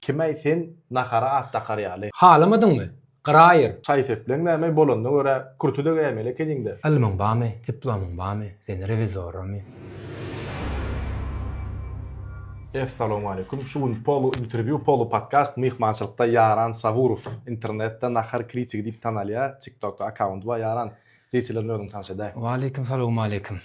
Kim-äý sen nahara at dakar ýaly? Halamadyňmy? Gyraýyr! Şaý-sepleň näme, bolanyna görä, kürte-de geýmeli ekeniň-dä. Ylmyň bamy, diplomyň bamy, seni rewizoramy? Essalowmaleýkum. Şu gün polu interwýu, polu podkast myhmançylykda Ýaran Saburow. Internetde Nahar kritigi diýip tanalýar. Tiktokda akkaunty bar Ýaran. Zeýçi bilen özüňi tanyş edäý. Waleýkim salowmaleýkim.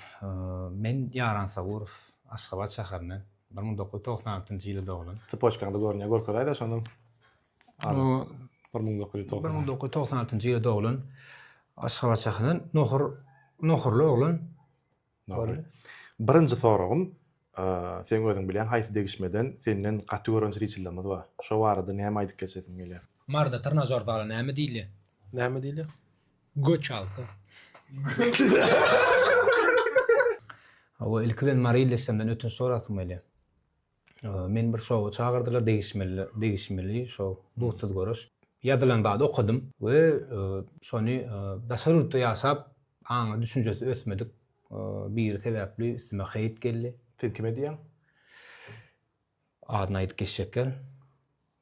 Men Ýaran Saburow, Aşgabat şäherinden. Bir müň dokuz ýüz togsan altynjy ýyly doglan. Cpoçkaňda görünýär, görkezaýda şondan. Bu bir müň dokuz ýüz togsan. Bir müň dokuz ýüz togsan altynjy ýyly doglan. Aşgabat şäherinden nohur nohurly oglan. Nohurly. Birinji soragym, seň özüň bilýäň haýsy degişmeden senden gaty gören jriçillerimiz bar. Şo barada näme aýdyp geçesiň gelýär? Marda trnažor zala näme diýilýär? Näme diýilýär? Göç alka. Hawa, ilki bilen Maryly eşemden ötünç sorasym gelýär. Meni bir şowa çagyrdylar, degişmeli, degişmeli şo dutsuz görüş. Ýazylan zady okadym we şony daşary ýurtda ýaşap, aňy, düşünjesi ösmedik biri sebäpli üstüme heýt geldi. Siz kime diýýäň? Adyny aýdyp geçjekler.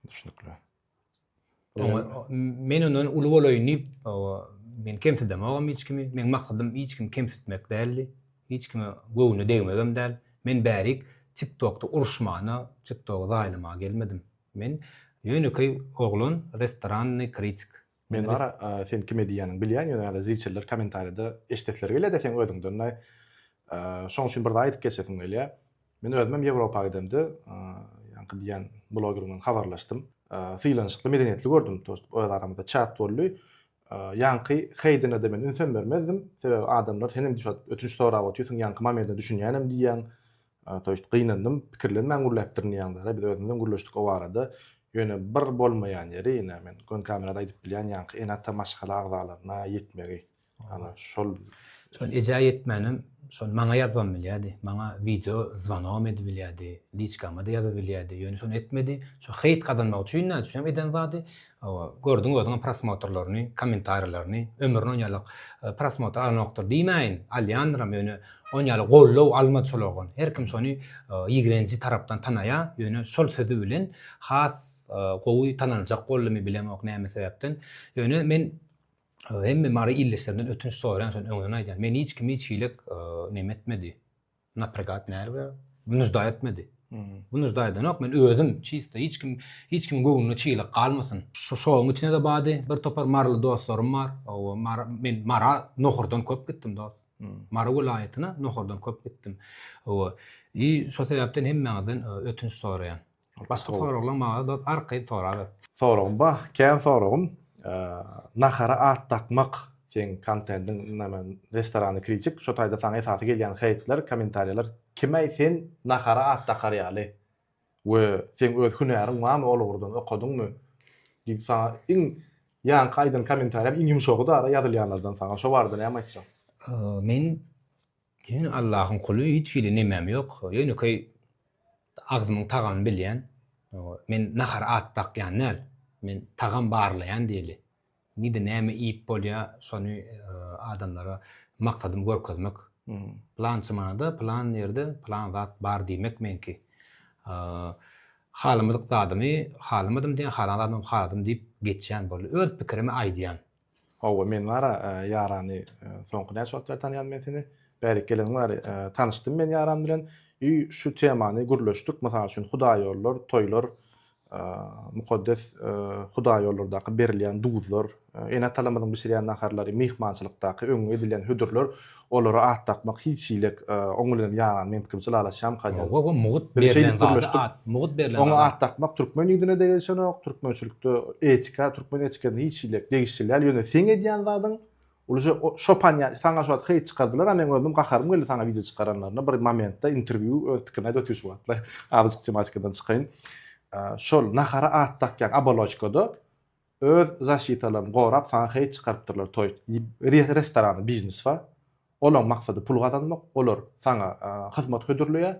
Düşnükli. Oňa men ondan uly bolaýyn diýip, men kemsidemogam hiç kimi. Meň maksadym hiç kimi kemsitmek däldi. Hiç kime göwnüne degmegem däl. Men bärik TikTokda uruşmana, TikTogy zaýalamaga gelmedim. Men ýönekeý oglan, restorannyý kritik. Men Zara sen kime diýýäniňi bilýän ýöne ýa-da zriçeller kommentariýada eşidesleri gelýä-dä seň özüňden daýy. Şoň üçin bir zat aýdyp geçesim gelýä. Men özümem Ýewropa gidemde ýaňky diýen bloger bilen habarlaşdym. Sylanyşykly medeniýetli gördüm dostum öz aramyzda çat boldy. Ýaňky heýdine-de men ünsem bermezdim. Sebäbi adamlar senem düşat ötünç sorap otyrsyň ýaňky mamerine düşünýänem diýýäň. Toýşt, gynandym. Pikirlenmän gürläpdirin diýýäňdä-da, biz özümizem gürleşdik o barada. Ýöne bir bolmaýan ýeri, ine, men göni kamerada aýdyp bilýän ýaňky ene-ata maşgala agzalaryna ýetmegi. Ana, şol. Şol ejä ýetmänem, şony maňa ýazybam bilýärdi. Maňa wideo zwanogam edibilýärdi, liçkama-da ýazybilýärdi. Ýöne şony etmedi. Şu heýt gazanmak üçin nädüçünem eden zady. Hawa, gördüň özüňem prosmotrlaryny, kommentariýalaryny, ömrüne onýalyk prosmotr alanokdyr diýmäýin, alýandyram, ýöne onýaly goldaw almady şol oglan. Her kim şony ýigrenji tarapdan tanaýar, ýöne şol sözi bilen has gowy tanaljak boldumy bilemok näme sebäpden. Ýöne men hemme mary ildeşlerimden ötünç soraýan, şony öňden aýdýan, meni hiç kim hiç hili neme etmedi. Napregat näre we müjda etmedi. Bu müjda edenok men özüm çista hiç kim hiç kim göwnüne çilik galmasyn. Şu şoň içine de bady bir topar marly dostlarym bar. O mar men mara nohurdan köp gitdim dost. Mara welaýatyna nohurdan köp gitdim. O i şo sebäpden hemmäňizden ötünç soraýan. Başga soraglaň maňa dos arkaýyn soraber. Soragym ba, kän soragym. Nahara at dakmak seň kontendiň näme restorany kritik şo taýda saňa esasy gelýän heýtler kommentariýalar kimäý sen nahara at dakar ýaly we seň öz hünäriň barmy ol ugurdan okadyňmy diýip saňa iň ýaňky aýdan kommentariýam iň ýumşagy dara ýazylýanlardan saňa şo barada näme aýtjaň. Men Men Allahyň kuly hiç hili nemem ýok ýönekeý agzymyň tagamyny bilýän men nahara at dakýan däl men tagam barlaýan diýeli nide näme iýip bolýa şony adamlara maksadym görkezmek pylançy manada pylan ýerde pylan zat bar diýmek meňki halamadyk zadymy halamadym diýen halan zadymam haladym diýip geçýän boldy öz pikirimi aýdýan. Howwa men bara Ýarany soňky näçe wagt bäri tanýan men seni? Bärik geleniň bäri tanyşdym men Ýaran bilen ýy şu temany gürleşdik mysal üçin hudaýýollar, toýlar, mukaddes hudaýýollardaky berilýän duzlar, ene-atalarymyzyň bişirýän naharlary, myhmançylykdaky öňňe edilýän hödürler Olara at dakmak hiç hilik oň bilen ýaňa men pikrimçe lalaşýamyka diýen. Hawa mugt berlen zada at, mugt berlen zada. Oňa at dakmak türkmen ýüzüne degişenok, türkmençilikde etika, türkmen etikasyna hiç hilik degişli däl, ýöne seň edýän zadyň ulja şopan ýa saňa şu wagt hyýt çykardylar a meň özüm gaharym geldi saňa wideo çykaranlaryna bir momentde interwýu öz pikirini aýdyp otyr şu wagtlar azajyk tematikadan çykaýyn şol nahara at dakýaň abaloçkada Öz zaşitalaryny gorap saňa heý çykarypdyrlar toý restorany biznes ba olaň maksady pul gazanmak olar saňa hyzmat hödürleýä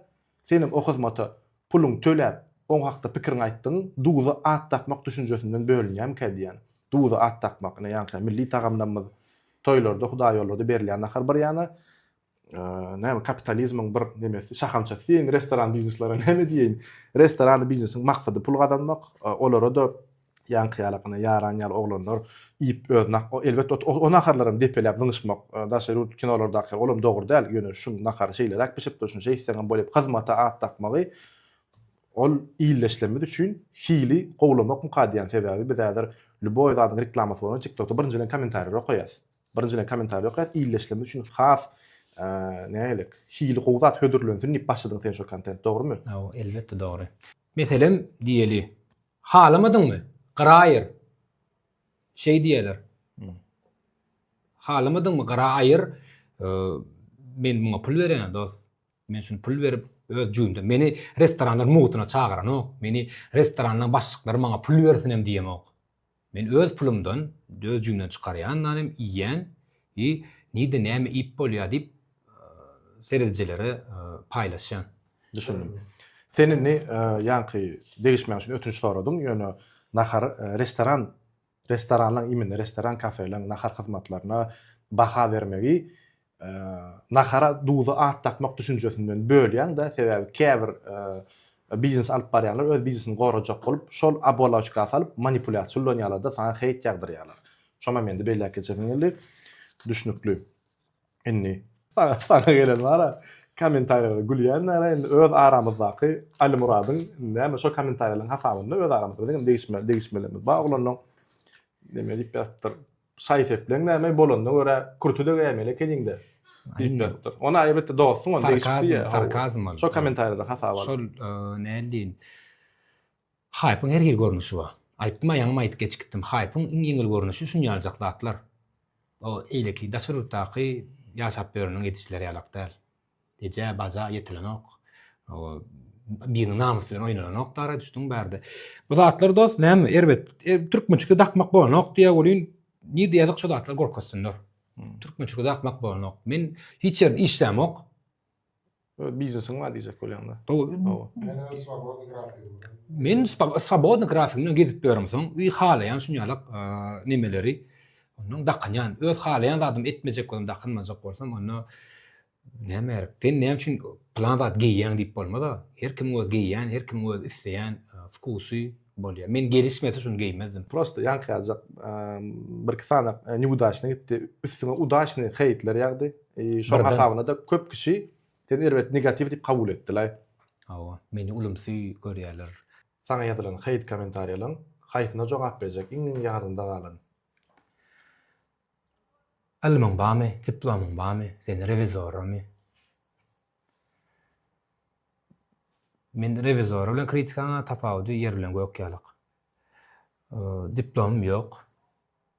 senem o hyzmata puluň töläp oň hakda pikiriň aýtdygyň duza at dakmak düşünjesinden bölünýämikä diýýän duza at dakmak ine ýaňky milli tagamlamyz toýlarda hudaýýollada berilýän nahar bir ýana näme kapitalizmiň bir nemesi şahamçasy diýeýin restoran bizneslere näme diýeýin restoran biznesiň maksady pul gazanmak olara da ýaňky ýalakana ýaran ýaly oglanlar iýip özüne elbet o naharlar hem depeläp zyňyşmak daşary ýurt kinolardaky ol hem dogry däl ýöne şunuň nahary şeýleräk bişipdir şuny şeýtseň hem bolýar hyzmata at dakmagy ol illeşlemiz üçin hili gowlamak mukadýan sebäbi biz häzir lýuboý zadyň reklamasy bolan tiktokda birinji bilen kommentariýalary okaýas Birinjiden komentar ýok ýat illeşlemesi üçin has nägelik hili gowy zat hödürlensin diýip başladyň sen şo kontent dogrymy? Haw elbetde dogry. Meselem diýeli halamadyňmy gyraýyr şeý diýerler halamadyňmy gyra aýyr men muňa pul berýän dost men şuny pul berip öz jübimde meni restoranlar mugytyna çagyranok meni restoranlaryň başlyklary maňa pul bersin hem diýemok Men öz pulumdan, öz jüňden çykarýan nanem iýýän i nirde näme iýip bolýar diýip seredijilere paýlaşýan. Düşündim. Sen indi ýaňky degişmäň üçin ötünç soradyň, ýöne nahar restoran restoranlaň imine restoran kafeleň nahar hyzmatlaryna baha bermegi Nahara duza at dakmak düşünjesinden bölýäň-de, sebäbi käbir biznes alyp barýanlar öz biznesini gorajak bolup, şol oboloçka salyp manipulýasiýa ulanýarlar-da, saňa heýt ýagdyrýarlar. Şonam indi belläp geçesim geldi. Düşnükli. Indi. Saňa gelen bar-a, kommentariýalara gülýänler-ä indi öz aramyzdaky Alimyradyň näme şo kommentariýalaryň hasabynda öz aramyzda biziňem degişme degişmelerimiz bar oglanlaň näme diýip ýazypdyr. Şaý-sepleň näme, bolanyna görä, kürti-de geýmeli ekeniň-dä! diýip ýazypdyr. Ony aýryp, dostuň ony degişip diýýär. Sarkazm ol. Şo kommentariýadan hasap alyp. Şol, nädip diýin, haýpyň her hili görnüşi bar. Aýtdym-a, ýaňam aýdyp geçikdim. Haýpyň iň ýeňil görnüşi şunýaljak zatlar. O, eýleki daşary ýurtdaky ýaşap ýöreniň edişleri ýalak däl. Eje baja ýetilenok. Biriniň namysy bilen oýnananok dara düşdüň bärde. Bu zatlar dost näme erbet. Türkmençikde dakmak bolanok diýä welin nirde ýazyk şo zatlar gorkuzsynlar. Türkmençikde dakmak bolanok. Men hiç ýerde işlämok. Biznesiň bar diýjek bolýaňda. Men swobodny grafik bilen gezip ýörün soň halaýan şuny ýalak nemeleri Ondan dakynýan, öz halaýan zadymy etmejek bolsam, dakynmajak bolsam, onda näme gerek? Sen näme üçin plan zat geýýäň diýip bolmaz-a. Her kimiň öz geýýän, her kimiň öz isleýän wkusy bolýar. Men gelişmese şuny geýmezdim. Prosta ýaňky ýaljak birki sany neudacnyý gitdi. Üstüňe udaçnyý heýtler ýagdy. Şoň hasabyna-da köp kişi seni erbet negatiw diýip kabul etdiler. Hawa, meni ulumsy görýärler. Saňa ýazylan hate kommentariýalaň haýsyna jogap berjek iň iň ýadymda galan. Ylmyň bamy, diplomyň bamy, sen rewizoramy? Men rewizor bilen kritikaň tapawudy ýer bilen gök ýalyk. Diplomym ýok.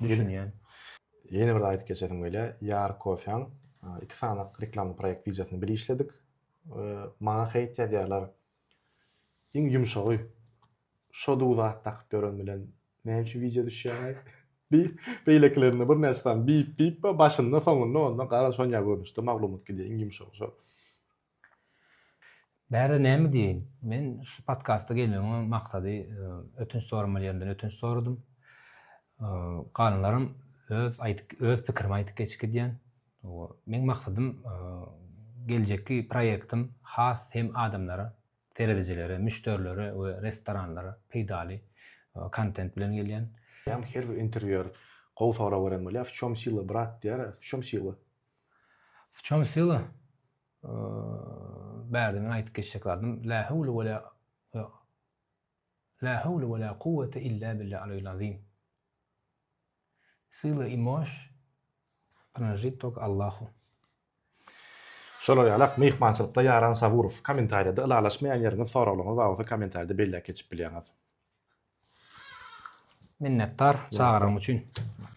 düşünýän. Ýene bir zat aýdyp geçesim gelýär. Ýar kofeň iki sany reklamny proýekt wideosyny bir işledik. Maňa heýt ýazýarlar. Iň ýumşagy şo du zat dakyp ýören bilen näme üçin wideo düşýäňaý? Bi beýlekilerinde birnäçe sany bip bip bar, başynda, soňunda onda gara şonýa görnüşde maglumat gidýär, iň ýumşagy şo. Bärde näme diýeýin? Men şu podkasta gelmegiň maksady ötünç soramal ýerinden ötünç soradym. Galanlarym öz aýdyp öz pikirimi aýdyp geçip gidýän. Meň maksadym geljekki proýektim has hem adamlara, seredijilere, müşderilere we restoranlara peýdaly kontent bilen gelýän. Her bir interwýuer gowy sorag beren bolýar, w çom syla brat diýýär, w çom syla? W çem syla bärde men aýdyp geçjek zadym la howle we la la howle we la kuwwete illa billa aleyil azim syla imoş pranžit tok Allahu. Şolar ýaly ak myhmançylykda ýaran Saburow. Komentarýada ylalaşmaýan ýeriňiz soraglaryňyz bar bolsa komentarýada belläp geçip bilýäňiz. Minnetdar çagyran üçin.